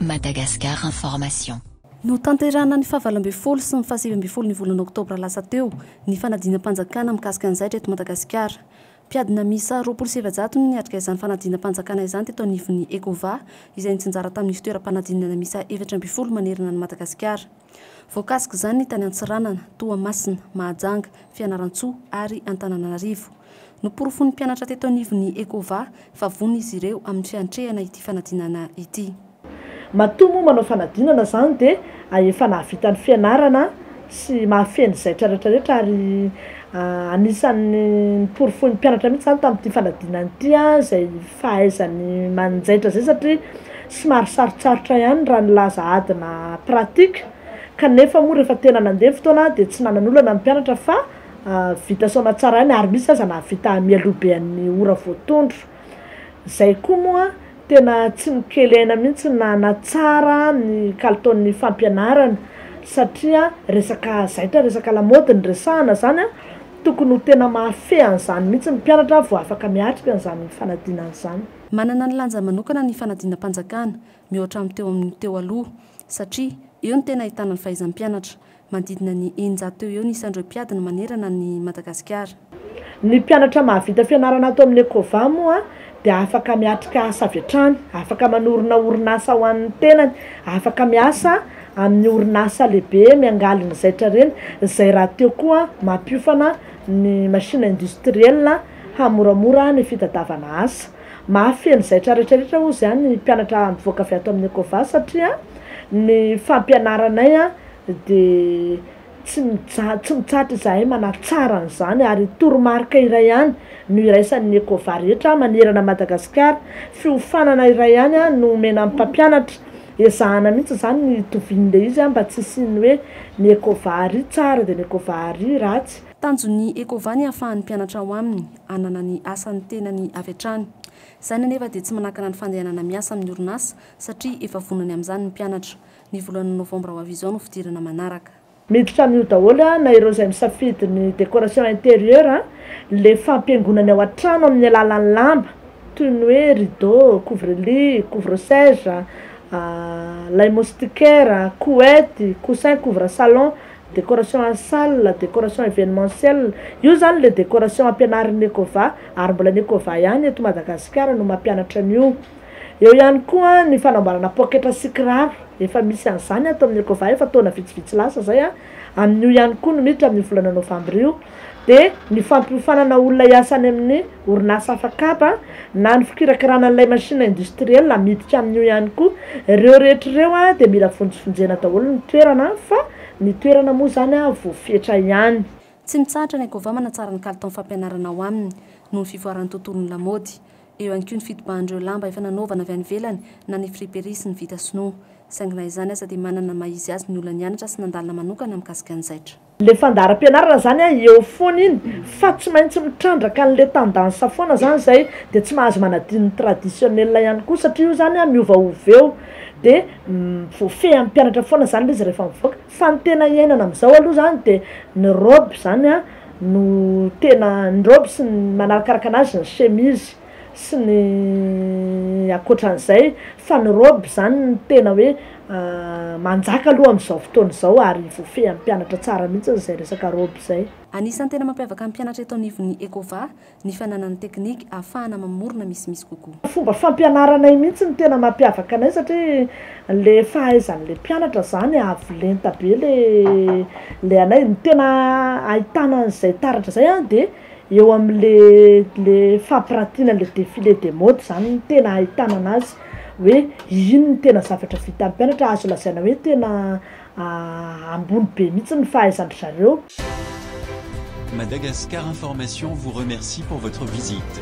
Madagascar Information. Notanterahina ny fahavalo ambin'ny folo sy ny fahasivy ambin'ny folo ny volana oktobra lasa teo ny fanadinam-panjakana mikasika ny zaitra eto Madagasikara. Mpiadina miisa roapolo sy efajato no niatrika izany fanadinam-panjakana izany teto anivon'ny Ecova, izay nitsinjara tamin'ny fitoeram-panadinana miisa efatra ambin'ny folo manerana an'i Madagasikara. Voakasik'izany ny tany Antsiranana, Toamasina, Mahajanga, Fianarantsoa ary Antananarivo. Noporofoin'ny mpianatra teto anivon'ny Ecova fa vonona izy ireo amin'ny fiantrehana ity fanadinana ity. Matoa moa manao fanadinana izany dia efa nahavita ny fianarana sy mahafehy ny zaitra rehetrarehetra ary anisan'ny noporofoin'ny mpianatra mihitsy izany tamin'ity fanadinana ity izay fahaizany manjaitra izay satria somary sarotsarotra ihany raha nilaza adina pratique kanefa moa rehefa tena nandeha ny fotoana dia tsy nanan'olana ny mpianatra fa vita soamatsaraina ary misy aza nahavita mialoha be an'ny ora voatondro. Izay koa moa tena tsy nokelehina mihitsy ny nanatsara ny kalitaon'ny fampianarana satria resaka zaitra, resaka lamaody no resahana izany an! Tokony ho tena mahafehy an'izany mihitsy ny mpianatra vao afaka miatrika an'izany fanadinana izany. Manana ny lanjany manokana ny fanadinam-panjakana mihoatra amin'ny teo amin'ny teo aloha satria eo no tena ahitana ny fahaizam-pianatra. Manodidina ny eninjato teo ho eo ny isan'ireo mpiady no manerana an'i Madagasikara. Ny mpianatra mahavita fianarana ato amin'ny Ecova moa dia afaka miatrika asa avy hatrany, afaka manorina orinasa ho an'ny tenany, afaka miasa amin'ny orinasa lehibe miangaly ny zaitra reny, izay rahateo koa mampiofana ny machine industrielle hamoramora ny fitadiavana asa. Mahafehy ny zaitra rehetrarehetra hozy ny mpianatra mivoaka avy ato amin'ny Ecova satria ny fampianaranay dia tsy mijaly, tsy mitsahatra izahay manatsara an'izany ary toromarika iray ihany no iraisan'ny Ecova rehetra manerana an'i Madagasikara, fiofanana iray ihany no omena ny mpampianatra, ezahana mihitsy izany ny hitovian'ilay izy mba tsy hisian'ny hoe ny Ecova ary tsara dia ny Ecova ary ratsy. Tanjon'ny Ecova ny hahafahan'ny mpianatra ao aminy hanana ny asan'ny tenany avy hatrany. Izany anefa dia tsy manakana ny fandehanana miasa amin'ny orinasa satria efa vonona ny amin'izany ny mpianatra. Ny voalohan'ny novambra ho avy izao no fidirana manaraka. Miditra amin'io daholo na ireo izay misafidy ny décoration intérieure, le fampihaingonany ao an-trano amin'ny alalan'ny lamba toy ny hoe rideau, couvre-lit, couvre-sège, lay moustiquaire, couette, coussin couvre salon, décoration en salle, décoration événementiel, io zany le décoration ampianarin'ny Ecova ary mbola ny Ecova ihany eto Madagasikara no mampianatra an'io. Eo ihany koa ny fanamboarana poketra sy kiraro, efa misy an'izany ato amin'ny Ecova efa taona vitsivitsy lasa izay, amin'io ihany koa no miditra amin'io volana novambra io dia ny fampiofanana olona hiasa any amin'ny orinasa hafa kapa na ny fikirakirana an'ilay machine industriel miditra amin'io ihany koa, ireo rehetra ireo dia mila vonjivonjena daholo ny toerana fa ny toerana moa izany voafetra ihany. Tsy mitsahatra ny Ecova manatsara ny kalitaon'ny fampianarana ao aminy noho ny fivoaran'ny tontolon'ny lamaody. Eo ihany koa ny fitobahan'ireo lamba efa nanaovana avy any ivelany na ny friperie sy ny vita sinoa. Saingy na izany aza dia manana ny maha izy azy ny olona nianatra sy nandalina manokana mikasika ny zaitra. Le fandaharam-pianarana zany a eo foana iny fa tsy maintsy mitrandraka anle tendance foana zany zay de tsy mahazo manadino ny traditionnel ihany koa satria io zany a miovaova eo de voafehy ampianatra foana zany le izy rehefa mivoaka. Fa ny tena iainana amin'izao aloha izany dia ny robe izany no tena, ny robe sy ny manarakaraka anazy ny chemise sy ny ankoatran'izay fa ny robe izany no tena hoe manjaka aloha amin'izao fotoana izao ary voafehin'ny mpianatra tsara mihitsy izay resaka robe izay. Anisan'ny tena mampiavaka ny mpianatra eto anivon'ny Ecova ny fananany teknika ahafahana mamorona misimisy kokoa. Fomba fampianaranay mihitsy no tena mampiavaka anay satria le fahaizany le mpianatra zany avo lenta be le le anay, ny tena ahitana an'izay taratra zay an de eo amle le fampiratiana le defile de mode zany no tena ahitana anazy hoe ino no tena zavatra vitan'ny mpianatra azo lazaina hoe tena ambony be mihitsy ny fahaizan-dry zareo. Madagascar Information vous remercie pour votre visite.